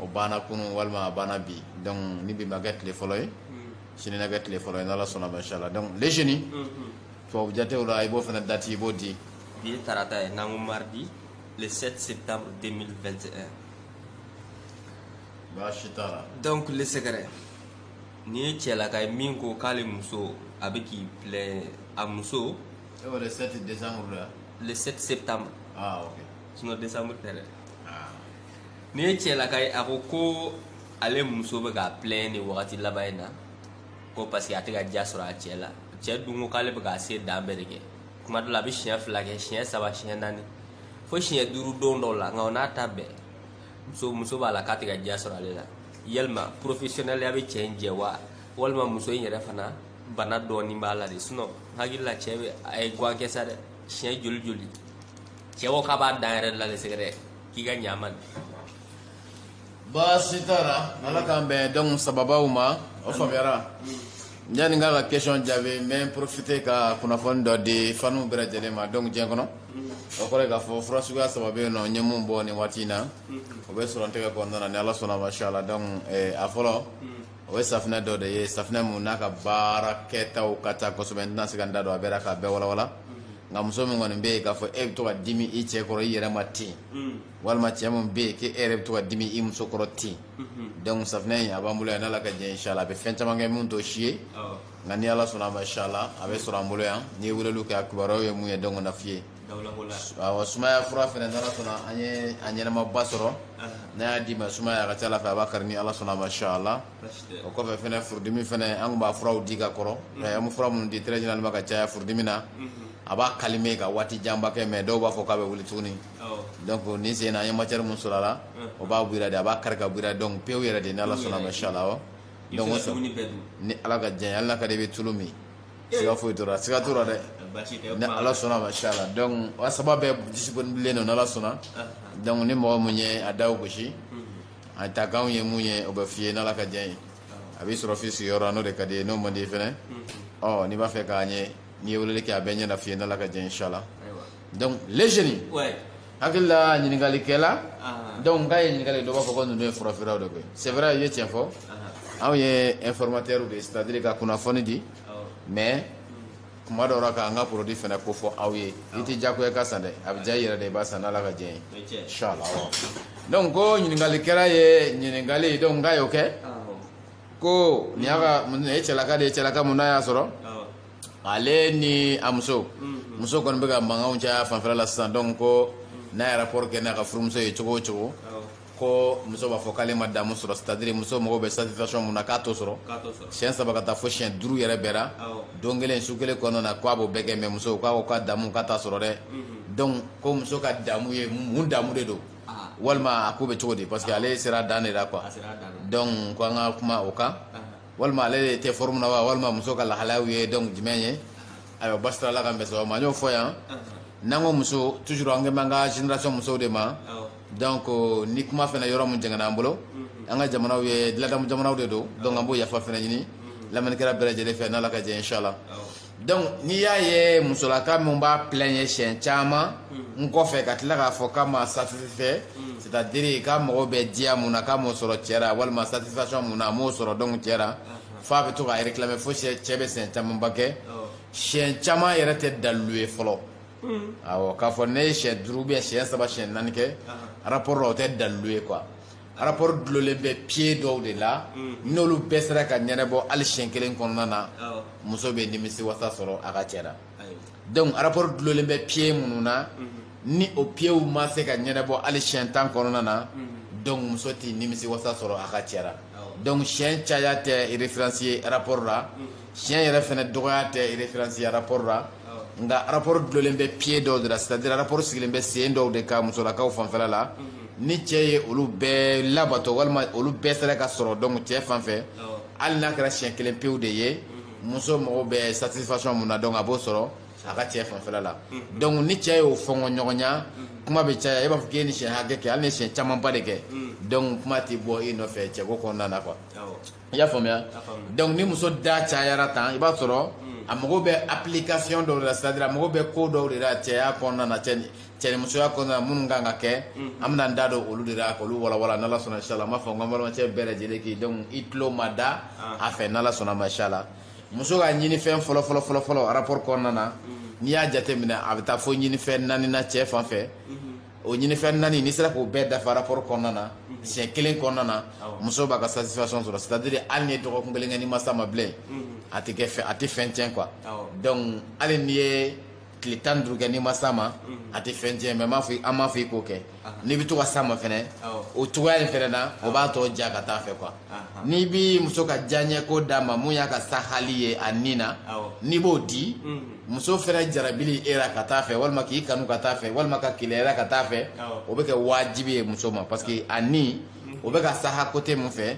o banna kunun walima a banna bi donc ni bi ma k'a tile fɔlɔ ye sini na k'a tile fɔlɔ ye n'ala sɔnna ma inshallah donc les jeunes tubabu jatew la i b'o fana dati i b'o di bi ye taarata ye n'an ko mardi le 7 septembre 2021 baasi t'a la donc le sɛgɛrɛ nin ye cɛlaka ye min ko k'ale muso a bɛ k'i plaindre a muso e ko le 7 décembre la le 7 septembre ah ok sinon décembre tɛ dɛ ah. Nin ye cɛlaka ye a ko ko ale muso bɛ k'a plaindre nin wagati laban in na ko parce que a tɛ ka diya sɔrɔ a cɛ la cɛ dun ko k'ale bɛ k'a se dan bɛɛ de kɛ kuma dɔ la a bɛ siɲɛ fila kɛ siɲɛ saba siɲɛ naani fo siɲɛ duuru don dɔw la nka o n'a ta bɛɛ muso muso b'a la k'a tɛ ka diya sɔrɔ ale la yalima professionnelya bɛ cɛ in jɛ wa walima muso in yɛrɛ fana bana dɔɔnin b'a la de sinon n hakili la cɛ bɛ a ye guwan kɛ sa dɛ siɲɛ joli joli cɛ ko k'a b'a dan yɛrɛ de la de sɛgɛrɛ k'i ka ɲ'a ma dɛ baasi t'a la ala k'an bɛn donc sababaw ma o faamuyara yanni n k'a ka question jaabi n bɛ profiter ka kunnafoni dɔ di faniw bɛɛ lajɛlen ma donc diɲɛ kɔnɔ o kɔrɔ k'a fɔ fura suguya saba bɛ yen nɔ n ye mun bɔ nin waati in na o bɛ sɔrɔ n tɛgɛ kɔnɔna na ni ala sɔnna ma inshallah donc a fɔlɔ o ye safinɛ dɔ de ye safinɛ min n'a ka baara kɛta ka ca kosɛbɛ n tɛna se ka n da don a bɛɛ la k'a bɛɛ walawala nka muso min kɔni bɛ yen k'a fɔ e bɛ to ka dimi i cɛ kɔrɔ i yɛrɛ ma ten walima cɛ min bɛ yen k'e yɛrɛ bɛ to ka dimi i muso kɔrɔ ten donc safinɛ in a b'an bolo yan n'ala ka diɲɛ inshallah a bɛ fɛn caman kɛ min t'o si ye nka ni ala sɔnna a ma inshallah a bɛ sɔrɔ an bolo yan n'i ye weleli kɛ a kibaruyaw ye mun ye donc na f'i ye Wa sumaya fura fana n'ala sɔnna an ye a ɲɛnamaba sɔrɔ n'an y'a d'i ma sumaya a ka ca la fɛ a b'a kari ni ala sɔnna ma inshallah o kɔfɛ fana furudimi fana an tun b'a furaw di ka kɔrɔ an bɛ fura minnu di généralement ka caya furudimi na a b'a calmer ka waati janba kɛ mais dɔw b'a fɔ k'a bɛ wuli tuguni donc nin sen na an ye matière min sɔrɔ a la o b'a bɔ i la de a b'a kari ka bɔ i la donc pewu yɛrɛ de ni ala sɔnna ma inshallah ni ala ka jɛn hali n'a ka di i bɛ tulu min siga foyi t'o ra siga t'o ra dɛ ni ala sɔnna ma inshallah donc a saba bɛɛ disponible don n'ala sɔnna donc ni mɔgɔ min ye a da gosi a takanw ye mun ye o bɛ f'i ye n'ala ka jɛn ye a b'i sɔrɔ f'i sigiyɔrɔ n'o de ka d'i ye n'o man di fana ɔ n'i b'a fɛ k'a ɲɛ n'i ye weleli kɛ a bɛɛ ɲɛ na f'i ye n'ala ka jɛn ye inshallah donc les jeunes ouais. hakili la ɲininkalikɛla donc k'a ye ɲininkali dɔ b'a fɔ ko ninnu ye furafeerelaw de koyi c'est vrai i ye tiɲɛ fɔ anw ye informateur de ye c'est à dire ka kunnafoni di mais kuma dɔw la k'an ka produit fana ko fɔ aw ye i tɛ diyagoya ka san dɛ a bɛ diya i yɛrɛ de i b'a san n'ala ka diɲɛ ye inshallah donc ko ɲininkalikɛla ye ɲininkali donc k'a y'o kɛ ko nin y'a ka nin ye cɛlaka de ye cɛlaka mun na y'a sɔrɔ ale ni a muso mm-hmm. muso kɔni bɛ ka mankanw caya fanfɛla la sisan donc ko mm-hmm. n'a ye rapport kɛ n'a ka furumuso ye cogo o cogo oh. ko muso b'a fɔ k'ale ma damu sɔrɔ c'est à dire muso mago bɛ satisfaction mun na k'a t'o sɔrɔ siɲɛ saba ka taa fo siɲɛ duuru yɛrɛ bɛɛ la oh. don kelen su kelen kɔnɔna na k'a b'o bɛɛ kɛ mais muso k'a ko k'a damu k'a t'a sɔrɔ dɛ mm-hmm. donc ko muso ka damu ye mun damu de don ah. walima a ko bɛ cogo di parce que ah. ale sera dan de la quoi donc ko an ka kuma o kan ah. walima ale de tɛ forme na wa walima muso ka lahalayaw ye donc jumɛn ye ayiwa basi t'a la ala k'an bɛn sababu ma n y'o fɔ yan n'an ko muso toujours an kan b'an ka génération musow de ma donc ni kuma fɛnɛ yɔrɔ min jɛngɛnna an bolo an ka jamanaw ye ladamu jamanaw de don donc an b'o yafa fɛnɛ ɲini lamɛnnikɛla bɛɛ lajɛlen fɛ n'ala ka jɛ inshallah donc n'i y'a ye musolaka min b'a plaigner siɲɛ caman n kɔfɛ ka tila k'a fɔ k'a ma satisfait c'est à dire k'a mago bɛ diya mun na k'a m'o sɔrɔ cɛ la walima satisfaction mun na a m'o sɔrɔ donc cɛ la f'a bɛ to k'a réclamer fo cɛ bɛ siɲɛ camanba kɛ siɲɛ caman yɛrɛ tɛ dalilu ye fɔlɔ awɔ k'a fɔ ne ye siɲɛ duuru ou bien siɲɛ saba siɲɛ naani kɛ rapport la o tɛ dalilu ye quoi rapport dulolen bɛ pied dɔw de la n'olu bɛɛ sera ka ɲɛnabɔ hali siɲɛ kelen kɔnɔna na muso bɛ nimisiwasa sɔrɔ a ka cɛ la donc rapport dulolen bɛ pied minnu na ni o pieds ma se ka ɲɛnabɔ hali siɲɛ tan kɔnɔna na donc muso tɛ nimisiwasa sɔrɔ a ka cɛ la donc siɲɛ caya tɛ référence ye rapport la siɲɛ yɛrɛ fɛnɛ dɔgɔya tɛ référence ye rapport la nka rapport dulolen bɛ pied dɔw de la c'est à dire rapport sigilen bɛ sen dɔw de kan musolakaw fanfɛla la ni cɛ ye olu bɛɛ labato walima olu bɛɛ sera ka sɔrɔ donc cɛ fan fɛ hali n'a kɛra siɲɛ kelen pewu de ye muso mago bɛ satisfaction mun na donc a b'o sɔrɔ a ka cɛ fanfɛla la donc ni cɛ y'o fɔngɔ ɲɔgɔnya kuma bɛ caya e b'a fɔ k'e ni siɲɛ hakɛ kɛ hali ni siɲɛ camanba de kɛ donc kuma tɛ bɔ i nɔfɛ cɛko kɔnɔna na quoi i y'a faamuya donc ni muso da cayara tan i b'a sɔrɔ hmm. a mago bɛ application dɔw de la c'est-à-dire a mago bɛ ko dɔw de la cɛya kɔnɔna na cɛ cɛnimusoya kɔnɔna na minnu kan ka kɛ hmm. an bɛna n da don olu de la k'olu walawala n'ala sɔnna inshallah n b'a fɔ n ka balimakɛ bɛɛ lajɛlen k'i donc i tulo ma da ah. a fɛ n'ala sɔnna ma inshallah muso ka ɲinifɛn fɔlɔ fɔlɔ fɔlɔ fɔlɔ rapport kɔnɔna na hmm. n'i y'a jateminɛ a bɛ taa fo ɲinifɛn naani na cɛ fan fɛ o ɲinifɛn naani n'i sera k'o bɛɛ dafa rapport kɔnɔna na siɲɛ kelen kɔnɔna na muso b'a ka satisfaction sɔrɔ c'est à dire hali n'i ye dɔgɔkun kelen kɛ n'i ma s'a ma bilen a tɛ kɛ fɛn a tɛ fɛn tiɲɛ quoi donc hali n'i ye tile tan ni duuru kɛ n'i ma s'a ma a tɛ fɛn tiɲɛ mais m'a fɔ an m'a fɔ i k'o kɛ n'i bɛ to ka s'a ma fɛnɛ o cogoya in fɛnɛ na o b'a tɔ diya ka taa fɛ quoi n'i b'i muso ka diyaɲɛko d'a ma mun y'a ka sahali ye a ni na n'i b'o di muso fana jarabili e la ka taa fɛ walima k'i kanu ka taa fɛ walima ka keleyara ka taa fɛ o bɛ kɛ wajibi ye muso ma parce que a ni o bɛ ka saha côté min fɛ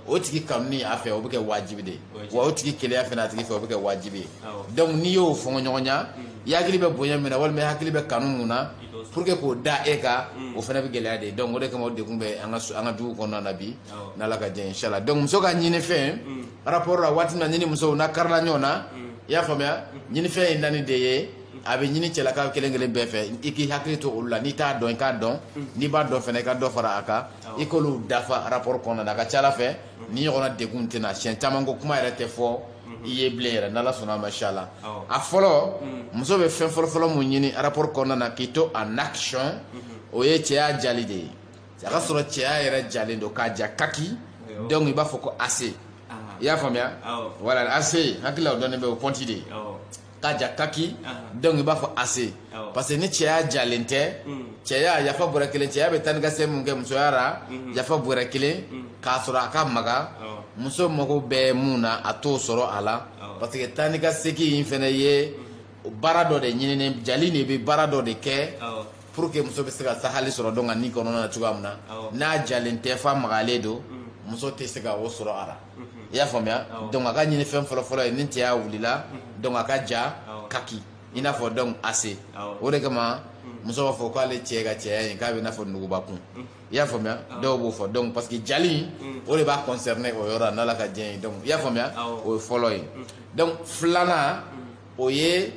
o tigi kanuni a fɛ o bɛ kɛ wajibi de wa o tigi keleya fana a tigi fɛ o bɛ kɛ wajibi ye donc n'i y'o fɔ ɲɔgɔnya i hakili bɛ bonya min na walima i hakili bɛ kanu min na pour que k'o da e kan o fana bɛ gɛlɛya de donc o de kama o degun bɛ an ka dugu kɔnɔna na bi n'ala ka diɲɛ inchallah donc muso ka ɲini fɛn mm. rapport la waati na n'i ni muso na karila ɲɔgɔn na mm. i y'a faamuya mm. ɲini fɛn ye naani de ye a bɛ ɲini cɛlakaw kelen kelen bɛɛ fɛ i k'i hakili to olu la n'i t'a dɔn i k'a dɔn n'i b'a dɔn fana i ka dɔ fara a kan i k'olu dafa rapport kɔnɔna na a ka ca ala fɛ ni ɲɔgɔnna degun tɛna siyɛn caman ko kuma yɛrɛ tɛ fɔ i ye bilen yɛrɛ n'ala sɔnna a ma inchallah a fɔlɔ muso bɛ fɛn fɔlɔfɔlɔ mun ɲini rapport kɔnɔna na k'i to en action o ye cɛya jali de ye a ka sɔrɔ cɛya yɛrɛ jalen don k'a ja kaki donc i b'a fɔ ko acier ah. i y'a faamuya voilà acier hakili la o dɔnnen bɛ o pɔnti de ye k'a ja kaki ah. donc i b'a fɔ acier parce que ni cɛya jalen tɛ mm. cɛya yafa bɔrɛ kelen cɛya bɛ taa ni ka segin mun kɛ musoya ra mm-hmm. yafa bɔrɛ kelen mm. k'a sɔrɔ a ka magan muso mago bɛ mun na a t'o sɔrɔ a la parce que taa ni ka segin in fana ye mm. baara dɔ de ɲinini jali de bɛ baara dɔ de kɛ pour que muso bɛ se ka sahali sɔrɔ donc a ni kɔnɔna na cogoya min na n'a jalen tɛ fa magalen don mm. muso tɛ se ka o sɔrɔ a la mm-hmm. i y'a faamuya donc a ka ɲini fɛn fɔlɔfɔlɔ ye ni cɛya wulila mm-hmm. donc a ka ja kaki i n'a fɔ donc acier o de kama mm. muso b'a fɔ k'ale cɛ ka cɛya in k'a bɛ i n'a fɔ nugubakun mm. i y'a faamuya dɔw b'o fɔ donc parce que jali o de b'a concerner o yɔrɔ la n'ala ka diɲɛ ye donc i y'a faamuya o ye fɔlɔ ye donc filanan o ye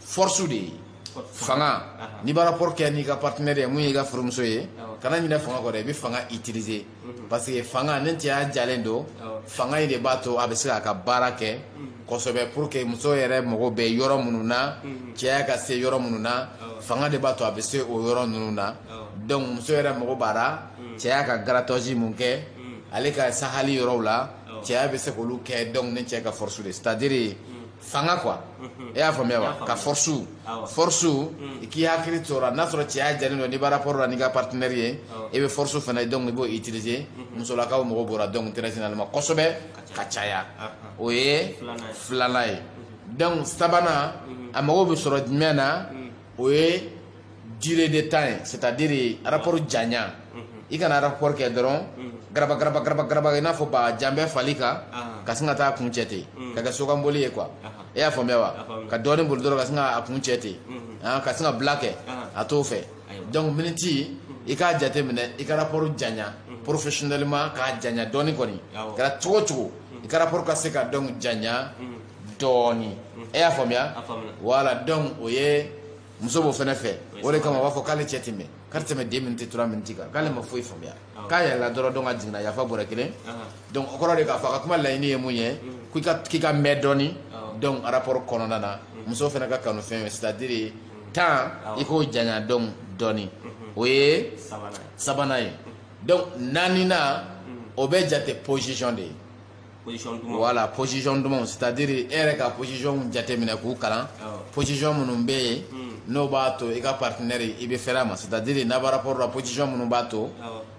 force de ye fanga n'i b'a rapport kɛ n'i ka partenaire ye mun y'i ka furumuso ye kana ɲinɛ fanga kɔ dɛ i bɛ fanga utiliser mhm. parce que fanga ni cɛya jalen don fanga in de b'a to a bɛ se k'a ka baara kɛ mhm. kosɛbɛ pour que muso yɛrɛ mago bɛ yɔrɔ minnu na mhm. cɛya ka se yɔrɔ minnu na fanga de b'a to a bɛ se o yɔrɔ ninnu na donc muso yɛrɛ mago b'a la cɛya ka grattage mun kɛ ale ka sahali yɔrɔw la cɛya bɛ se k'olu kɛ donc ni cɛ ka force de c'est à dire fanga quoi mhm. e y'a faamuya wa ka force force mm. i k'i hakili to o la n'a sɔrɔ cɛya jalen don n'i b'a rapport la n'i ka partenaire ye i bɛ force fana donc i b'o utiliser mhm. musolakaw mago b'o la donc très généralement kosɛbɛ ka caya o ye filanan ye mhm. donc sabanan a mago bɛ sɔrɔ jumɛn na o ye durée de temps ye c'est à dire rapport janya i kana rapport kɛ dɔrɔn garaba garaba garaba garaba i n'a fɔ ba janbɛ fali kan ka sin ka taa kuncɛ ten ka kɛ sokanboli ye quoi e y'a faamuya wa ka dɔɔnin boli dɔrɔn ka sin ka a kuncɛ ten ka sin ka bila kɛ a t'o fɛ donc miniti i k'a jate minɛ i ka rapport janya professionnellement k'a janya dɔɔnin kɔni kɛra cogo cogo i ka rapport ka se ka donc janya dɔɔni e y'a faamuya voilà donc o ye muso b'o fɛnɛ fɛ o de kama u b'a fɔ k'ale cɛ tɛ mɛn k'a tɛ tɛmɛ deux minutes trois minutes kan k'ale ma foyi faamuya k'a yɛlɛla dɔrɔn donc a jiginna yafa bɔrɛ kelen donc o kɔrɔ de k'a fɔ a ka kuma laɲini ye mun ye k'i ka mɛn dɔɔni donc rapport kɔnɔna na muso fɛnɛ ka kanu fɛn ye c'est à dire temps i k'o janya donc dɔɔni o ye sabanan ye donc naaninan o bɛ jate position de ye voilà position dumanw c'est à dire e yɛrɛ ka position jateminɛ k'u kalan position minnu bɛ yen hmm. n'o b'a to i ka partenaire i bɛ fɛrɛ a ma c'est à dire n'a bɛ rapport la position minnu b'a to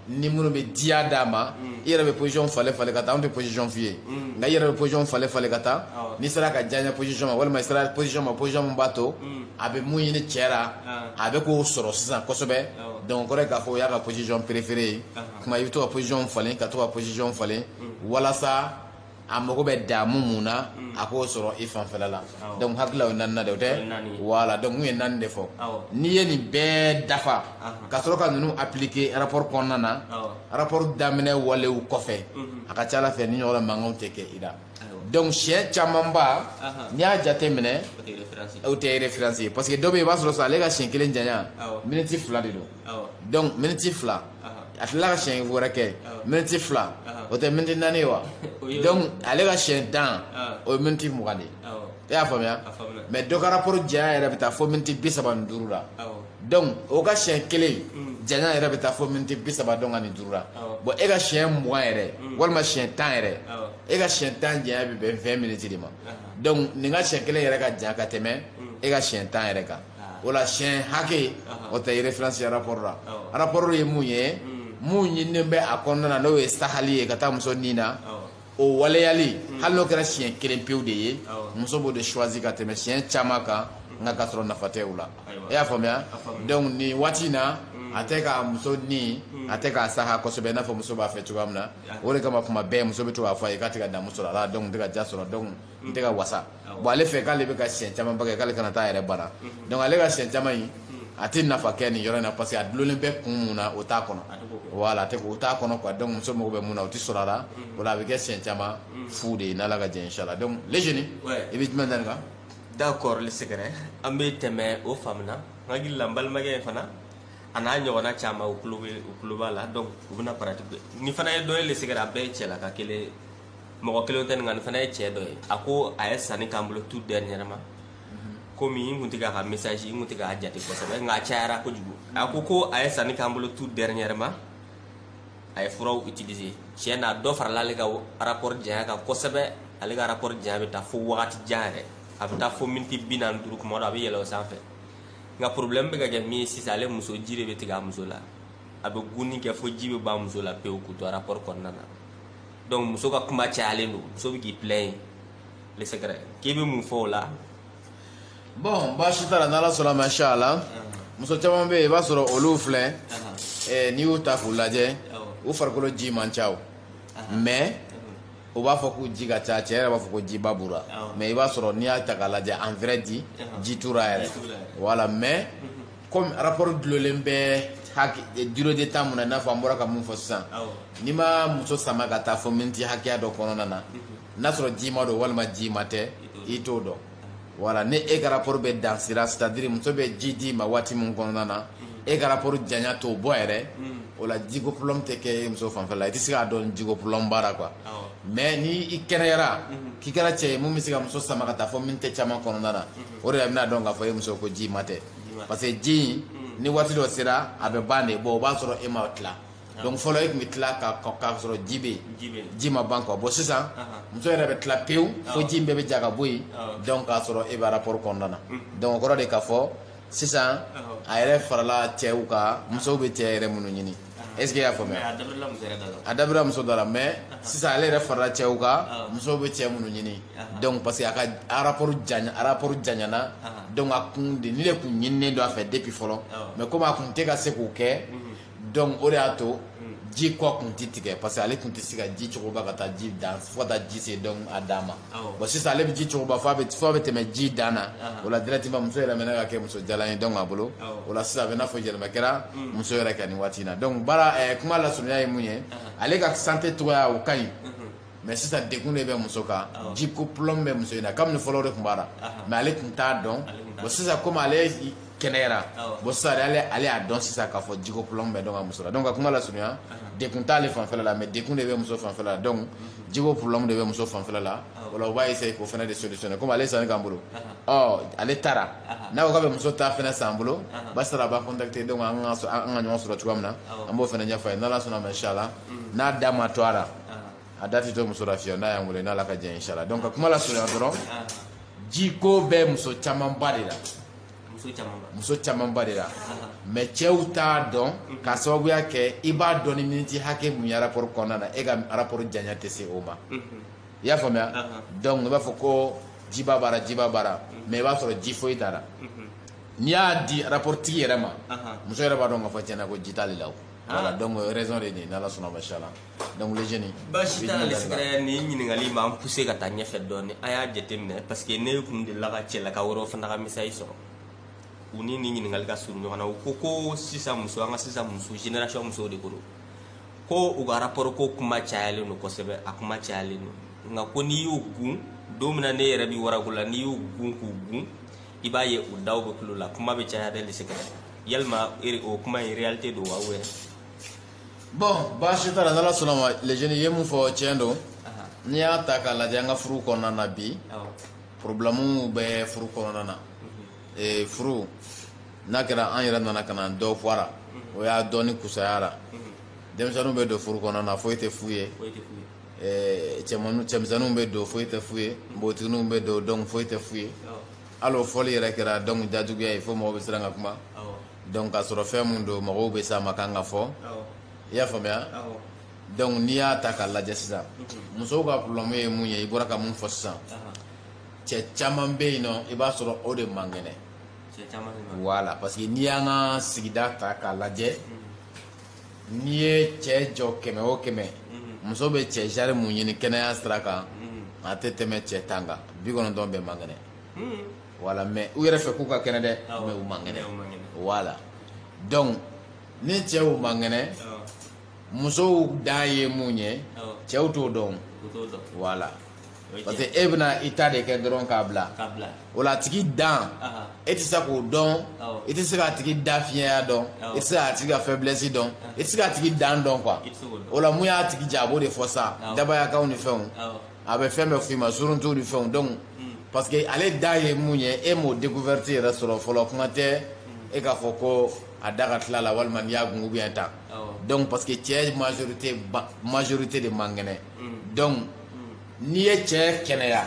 ni minnu bɛ diya d'a ma hmm. i yɛrɛ bɛ position falen falen ka taa an tɛ position f'i ye hmm. nka i yɛrɛ bɛ position falen falen ka taa n'i sera a ka diyanye position ma walima i sera position ma position min b'a to a bɛ mun ɲini cɛ la a bɛ k'o sɔrɔ sisan kosɛbɛ donc o kɔrɔ ye k'a fɔ o y'a ka position préférée ye. O tuma i bɛ to ka position falen ka to ka position falen walasa a mago bɛ damu min na a k'o sɔrɔ i fanfɛla la donc n hakili la o ye naaninan de ye, o tɛ? O ye naani ye, voilà donc n tun ye naani de fɔ, awɔ, n'i ye nin bɛɛ dafa, anhan, ka sɔrɔ ka ninnu appliquer rapport kɔnɔna na, awɔ, rapport daminɛ walew kɔfɛ, unhun, a ka ca a la fɛn nin ɲɔgɔnna mankanw tɛ kɛ i la, ayiwa, donc siyɛn camanba, anhan, n'i y'a jate minɛ, o tɛ référence ye, o tɛ référence ye parce que dɔ bɛ yen i b'a sɔrɔ sisan ale ka siyɛn kelen janya, awɔ, miniti fila de don. donc miniti fila a tila ka siyɛn wɛrɛ kɛ miniti fila o tɛ miniti naani ye wa donc ale ka siyɛn tan o ye miniti mugan de ye e y'a faamuya mais dɔ ka rapport janya yɛrɛ bɛ taa fo miniti bi saba ni duuru la donc o ka siyɛn kelen janya yɛrɛ bɛ taa fo miniti bi saba donc ani duuru la bon e ka siyɛn mugan yɛrɛ walima siyɛn tan yɛrɛ e ka siyɛn tan janya bɛ bɛn vingt minutes de ma donc nin ka siyɛn kelen yɛrɛ ka jan ka tɛmɛ e ka siyɛn tan yɛrɛ kan o la siyɛn hakɛ o tɛ référence rapport la rapport ye mun ye mun ɲininen bɛ a kɔnɔna na n'o ye sahali ye ka taa muso ni na o waleyali hali n'o kɛra siɲɛ kelen pewu de ye muso b'o de choisi ka tɛmɛ siyɛn caman kan nka ka sɔrɔ nafa tɛ a la e y'a faamuya donc nin waati in na a tɛ ka muso ni a tɛ k'a saha kosɛbɛ i n'a fɔ muso b'a fɛ cogoya min na o de kama kuma bɛɛ muso bɛ to k'a fɔ a ye k'a tɛ ka damu sɔrɔ a la donc n tɛ ka diya sɔrɔ donc n tɛ ka wasa bon ale fɛ k'ale bɛ ka siɲɛ caman kɛ k'ale kana taa yɛrɛ bana donc ale ka siɲɛ caman in a tɛ nafa kɛ nin yɔrɔ in na parce que a dulonnen bɛ kun mun na o t'a kɔnɔ voilà a tɛ o t'a kɔnɔ quoi donc muso mago bɛ mun na o tɛ sɔrɔ a la o la a bɛ kɛ siɲɛ caman fu de ye n'Ala ka jɛ inchallah donc les jeunes i bɛ jumɛn da nin kan d'accord le secret an bɛ tɛmɛ o faamuna n hakili la n balimakɛ in fana a n'a ɲɔgɔnna caman u tulo bɛ u tulo b'a la donc u bɛna pratique nin fana ye dɔ ye le secret a bɛɛ ye cɛlaka kelen ye mɔgɔ kelen tɛ nin nin fana ye cɛ dɔ ye a ko a ye sanni k'an bolo tout dernièrement komi n kun tɛ k'a ka message n kun tɛ k'a jate kosɛbɛ nka a cayara kojugu a ko ko a ye sanni k'an bolo tout dernièrement a ye furaw utiliser tiɲɛ na dɔ farala ale ka rapport janya kan kosɛbɛ ale ka rapport janya bɛ taa fo wagati jan yɛrɛ a bɛ taa fo miniti bi naani duuru kuma dɔ a bɛ yɛlɛ o sanfɛ nka problème bɛ ka kɛ min ye sisan ale muso ji de bɛ tigɛ a muso la a bɛ guni kɛ fo ji bɛ ban a muso la pewu k'u to rapport kɔnɔna na donc muso ka kuma cayalen don muso bɛ k'i plaindre le secret k'i bɛ mun fɔ o la bon baasi t'a la n'Ala sɔnna ma inchallah muso caman bɛ yen i b'a sɔrɔ olu filɛ eh, n'i y'u ta k'u lajɛ u farikolo ji man ca o mais u b'a fɔ ko ji ka ca cɛ yɛrɛ b'a fɔ ko jiba b'u ra mais i b'a sɔrɔ n'i y'a ta k'a lajɛ en vrai dire ji t'u ra yɛrɛ voilà mais Kɔmi rapport dulonnen bɛ durée de temps mun na i n'a fɔ an bɔra ka mun fɔ sisan n'i ma muso sama ka taa fo miniti hakɛya dɔ kɔnɔna na n'a sɔrɔ jima don walima jima tɛ i t'o dɔn voilà ni e ka rapport bɛ dan sira c'est-à-dire muso bɛ ji d'i ma waati min kɔnɔna na e ka rapport janya t'o bɔ yɛrɛ o la jiko problème tɛ kɛ muso fanfɛla i tɛ se k'a dɔn jiko problème b'a ra quoi mais ni i kɛnɛyara k'i kɛra cɛ ye min bɛ se ka muso sama ka taa fo miniti caman kɔnɔna na o de la i bɛna a dɔn k'a fɔ e muso ko jima tɛ parce que ji ni waati dɔ sera a bɛ ban de bon o b'a sɔrɔ e ma tila ah. donc fɔlɔ e tun bɛ tila k'a sɔrɔ ji bɛ yen ji ma ban quoi bon sisan ah, ah. muso yɛrɛ bɛ tila pewu fo ji in bɛɛ bɛ ja ka bɔ yen donc k'a sɔrɔ e bɛ rapport kɔnɔna na mm. donc o kɔrɔ de k'a fɔ sisan a yɛrɛ farala cɛw kan musow bɛ cɛ yɛrɛ minnu ɲini Est-ce que i y'a faamuya a dabira muso dɔ la mais sisan ale yɛrɛ farala cɛw kan musow bɛ cɛ minnu ɲini donc parce que a ka rapport rapport janyana donc a kun de nin de kun ɲininen don a fɛ depuis fɔlɔ mais komi a kun tɛ ka se k'o kɛ donc o de y'a to ji kɔ kun tɛ tigɛ parce que ale kun tɛ se ka ji cogoba ka taa ji dan fo ka taa ji se donc a dan ma bon sisan ale bɛ ji cogoba fo a bɛ fo a bɛ tɛmɛ ji dan na o la directement muso yɛlɛmana ka kɛ muso jalan ye donc a bolo o la sisan a bɛ n'a fɔ yɛlɛma kɛra muso yɛrɛ kan nin waati in na donc baara ɛɛ kuma lasurunya ye mun ye ale ka santé cogoya o ka ɲi mais sisan degun de bɛ muso kan jiko problème bɛ muso in na kabini fɔlɔ o de tun b'a la mais ale tun t'a dɔn bon sisan komi ale kɛnɛyara bon sisan ale ale y'a dɔn sisan k'a fɔ jiko problème bɛ donc a muso la donc ka kuma lasurunya degun t'ale fanfɛ la mais degun de bɛ muso fanfɛ la donc jiko problème de bɛ muso fanfɛ la voilà u b'a essayer k'o fana de solutionner comme ale sanni k'an bolo ɔ ale taara n'a ko k'a bɛ muso ta fana san an bolo baasi t'a la a b'an contacter donc an ka ɲɔgɔn sɔrɔ cogoya min na an b'o fana ɲɛfɔ a ye n'Ala sɔnna ma inchallah n'a da ma to a la a da tɛ to muso la fiyewu n'a y'an weele n'a ka jan inchallah donc ka kuma lasurunya dɔrɔn jiko bɛ muso camanba de la muso camanba de la mais cɛw t'a dɔn k'a sababuya kɛ i b'a dɔn ni miniti hakɛ mun ye rapport kɔnɔna na e ka rapport janya tɛ se o ma i y'a faamuya donc i b'a fɔ ko jiba b'a la jiba b'a la mais i b'a sɔrɔ ji foyi t'a la n'i y'a di rapport tigi yɛrɛ ma muso yɛrɛ b'a dɔn k'a fɔ tiɲɛ na ko ji t'ale la voilà donc raison de nin n'Ala sɔnna machallah Donc les jeunes baasi t'a la sira ni ɲininkali m'an pousser ka taa ɲɛfɛ dɔɔnin a y'a jateminɛ parce que ne tun delila ka cɛlakaw yɛrɛ fana ka message sɔrɔ u ni ni ɲininkali ka surun ɲɔgɔn na u ko ko sisan muso an ka sisan muso génération musow de ko ko u ka rapport ko kuma cayalen don kosɛbɛ a kuma cayalen don nka ko n'i y'u kun don min na ne yɛrɛ bɛ wara la n'i y'u kun k'u kun i b'a ye u da bɛ tulo la kuma bɛ caya deli se yalima o kuma in réalité don wa wɛrɛ bon baasi t'a la n'Ala sɔnna ma les jeunes ye mun fɔ tiɲɛ don n'i y'a ta k'a lajɛ an ka furu kɔnɔna na bi problème bɛ furu kɔnɔna na mhm. furu n'a kɛra an yɛrɛ nana ka na dɔ fɔ a la mhm. o y'a dɔɔnin kusaya la mhm. denmisɛnninw bɛ don furu kɔnɔna na foyi tɛ f'u ye cɛmanninw cɛmisɛnninw bɛ don foyi tɛ f'u ye npogotigininw bɛ don donc foyi tɛ f'u ye hali o fɔli yɛrɛ kɛra donc jajuguya ye fo mɔgɔ bɛ siran ka kuma donc k'a sɔrɔ fɛn min don mɔgɔw bɛ sa ma kan ka fɔ i y'a faamuya donc n'i y'a ta k'a lajɛ sisan musow ka problème ye mun ye i bɔra ka mun fɔ sisan cɛ caman bɛ yen nɔ i b'a sɔrɔ o de man kɛnɛ voilà parce que n'i y'an ka sigida ta k'a lajɛ mm-hmm. n'i ye cɛ jɔ kɛmɛ o kɛmɛ mm-hmm. muso bɛ cɛ genre mun ɲini kɛnɛya sira kan mm-hmm. a tɛ tɛmɛ cɛ tan kan bi kɔnɔntɔn bɛɛ man kɛnɛ voilà mais u yɛrɛ fɛ k'u ka kɛnɛ dɛ mais u man kɛnɛ voilà donc ni cɛw man kɛnɛ musow dan ye mun ye cɛw t'o dɔn voilà parce que e bɛna i ta de kɛ dɔrɔn k'a bila o la a tigi dan e tɛ se k'o dɔn i tɛ se k'a tigi da fiɲɛya dɔn i tɛ se k'a tigi ka faiblesse dɔn i tɛ se k'a tigi dan dɔn quoi o la mun y'a tigi ja a b'o de fɔ sa dabayakanw ni fɛnw a bɛ fɛn bɛɛ f'i ma suruntu ni fɛnw donc parce que ale da ye mun ye e m'o découverte yɛrɛ sɔrɔ fɔlɔ kuma tɛ e k'a fɔ ko a da ka tila la walima n'i y'a kun bɛ tan donc parce que cɛ majorité de man kɛnɛ donc n'i ye cɛ kɛnɛya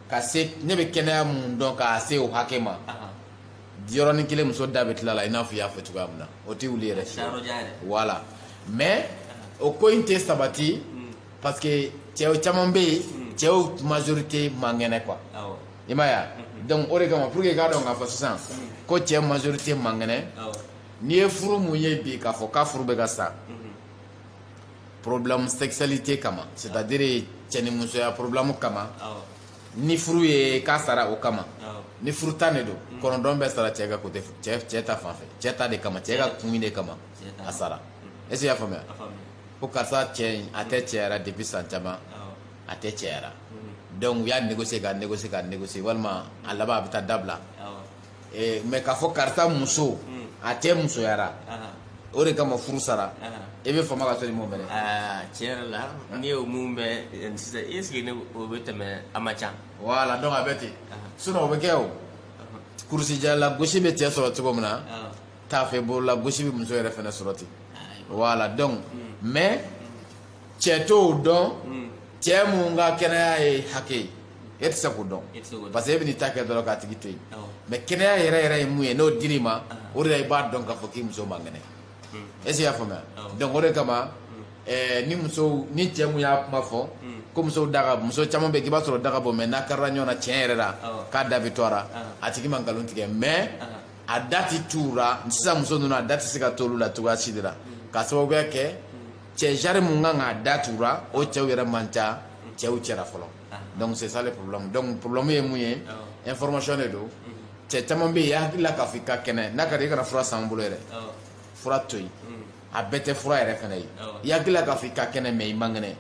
ka ne bɛ kɛnɛya mun dɔn k'a se o hakɛ ma yɔrɔnin kelen muso da bɛ tila la i n'a fɔ i y'a fɔ cogoya min na o tɛ wuli yɛrɛ voilà mais o ko in tɛ sabati parce que cɛw caman bɛ yen hmm. cɛw majorité man kɛnɛ quoi i m'a ye wa hmm. donc o de kama pour que i k'a dɔn k'a fɔ sisan hmm. ko cɛ majorité man kɛnɛ n'i ye furu mun ye bi k'a fɔ k'a furu bɛ ka sa problème sexualité kama c'est à dire cɛ ni musoya problème kama ni furu ye k'a sara o kama ni furu tan de don kɔnɔntɔn bɛɛ sara cɛ ka côté cɛ ta fan fɛ cɛ ta de kama cɛ ka kun de kama a sara est ce que i y'a faamuya ko karisa cɛ in a tɛ cɛyara depuis san caman a tɛ cɛyara donc u y'a négocier ka négocier ka négocier walima a laban a bɛ taa dabila mais k'a fɔ karisa muso a tɛ musoyara o de kama furu sara i bɛ fama ka sɔrɔ i m'o mɛn dɛ tiɲɛ yɛrɛ la n'i y'o mun mɛn sisan est ce que ne o bɛ tɛmɛ a ma ca voilà donc a bɛ ten sinon o bɛ kɛ o kurusijala lagosi bɛ cɛ sɔrɔ cogo min na taafe bolo lagosi bɛ muso yɛrɛ fana sɔrɔ ten voilà donc mais cɛ t'o dɔn cɛ mun ka kɛnɛya ye hakɛ ye e tɛ se k'o dɔn parce que e bɛ n'i ta kɛ dɔrɔn k'a tigi to yen mais kɛnɛya yɛrɛ yɛrɛ ye mun ye n'o dir'i ma o de la i b'a dɔn k'a fɔ k'i muso man kɛnɛ est ce que i y'a faamuya donc o de kama ni musow ni cɛ mun y'a kuma fɔ ko musow da ka muso caman bɛ yen k'i b'a sɔrɔ da ka bon mais n'a karila ɲɔgɔn na tiɲɛ yɛrɛ la k'a da bɛ to a la a tigi ma nkalon tigɛ mais a da tɛ t'u la sisan muso ninnu a da tɛ se ka t'olu la cogoya si de la k'a sababuya kɛ cɛ genre mun kan k'a da t'u la o cɛw yɛrɛ man ca cɛw cɛra fɔlɔ donc c'est ça le problème donc problème ye mun ye information de don cɛ caman bɛ yen i hakili la k'a fɔ i ka kɛnɛ n'a ka di i kana fura san an bolo yɛrɛ fura to yen a bɛɛ tɛ fura yɛrɛ fana ye i hakili la k'a fɔ i ka kɛnɛ mais i man kɛnɛ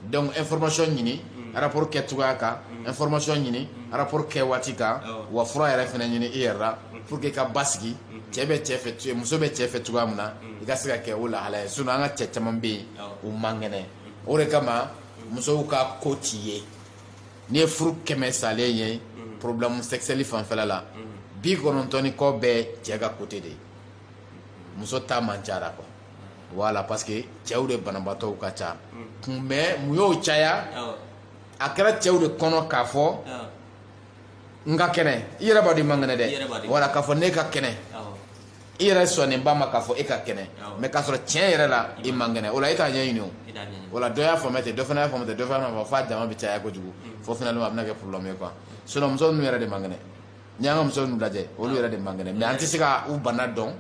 donc information ɲini mm. rapport kɛ cogoya kan mm. information ɲini mm. rapport kɛ waati kan wa fura yɛrɛ fana ɲini i yɛrɛ la pour que i ka basigi cɛ bɛ cɛ fɛ muso bɛ cɛ fɛ cogoya min na i ka se ka kɛ o lahala ye sinon an ka cɛ caman bɛ yen u man kɛnɛ o de kama musow ka ko t'i ye n'i ye furu kɛmɛ salen ye problème sexuelle fanfɛla la bi kɔnɔntɔn ni kɔ bɛɛ cɛ ka côté de ye muso ta man ca quoi voilà parce que cɛw de banabaatɔw ka ca mais mun y'o caya a kɛra cɛw de kɔnɔ k'a fɔ n ka kɛnɛ i yɛrɛ b'a dɔn i man kɛnɛ dɛ voilà k'a fɔ ne ka kɛnɛ i yɛrɛ sɔnnen b'a ma k'a fɔ e ka kɛnɛ mais k'a sɔrɔ tiɲɛ yɛrɛ la i man kɛnɛ voilà e t'a ɲɛɲini o voilà dɔ y'a faamuya ten dɔ fana y'a faamuya ten dɔ fana y'a faamuya f'a jama bɛ caya kojugu fo finalement a bɛna kɛ problème ye quoi sinon muso ninnu yɛrɛ de man kɛnɛ ni an ka muso ninnu lajɛ olu yɛrɛ de man kɛnɛ mais an tɛ se ka u bana dɔn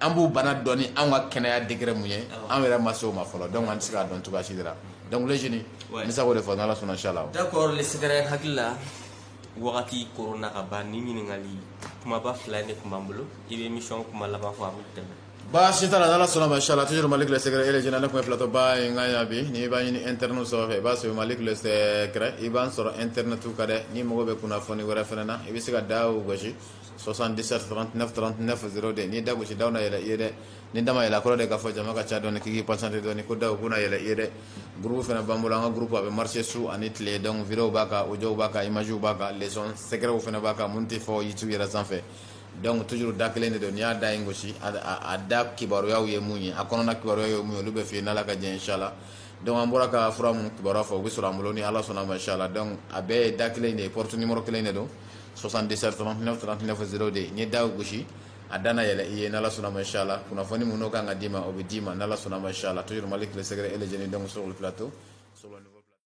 an b'u bana dɔn ni an ka kɛnɛya degré mun ye an yɛrɛ ma se o ma fɔlɔ donc an tɛ se k'a dɔn cogoya si la donc les jeunes n bɛ se k'o de fɔ n'ala sɔnna inchallah d'accord le secret hakili la wagati kɔnna ka ban ni ɲininkali kumaba fila de tun b'an bolo i bɛ émission kuma laban fɔ a bɛ tɛmɛ baasi t'a la n'Ala sɔnna ma inchallah toujours Malik le secret et les jeunes ne tun bɛ plateau ba in kan yan bi n'i b'an ɲini internet sanfɛ i b'a sɔrɔ Malik le secret i b'an sɔrɔ internet kan dɛ n'i mago bɛ kunnafoni wɛrɛ fana na i bɛ se ka da o gosi 77 39 39 02 n'i ye da gosi da na yɛlɛ i ye dɛ ni da ma yɛlɛ a kɔrɔ de k'a fɔ jama ka ca dɔɔni k'i k'i patienter dɔɔni ko da o bɛna yɛlɛ i ye dɛ groupe fana b'an bolo an ka groupe a bɛ marcher su ani tile donc vidéos b'a kan audios b'a kan images b'a kan leçon secrets fana b'a kan minnu tɛ fɔ YouTube yɛrɛ sanfɛ dɔnku tuuru da kelen de don n y'a da ye gosi a da kibaruyaw ye mun ye a kɔnɔna kibaruya ye mun ye olu bɛ fɛ yen n' ka diɲɛ si la dɔnku an bɔra ka fura minnu kibaruya fɔ u bɛ sɔrɔ an bolo ni ala sɔnna ma si la dɔn a bɛɛ ye da kelen de ye porotu nikɔrɔ kelen de don sɔsan dɛsɛ sɔrɔfɔ de ye n ye da gosi a dan yɛlɛ i ye ala sɔnna ma si la kunnafoni minnu kan ka d'i ma o bɛ d'i ma ala sɔnna ma si la tourma tile sɛgɛgɛrɛ e lajɛlen dɔnmuso to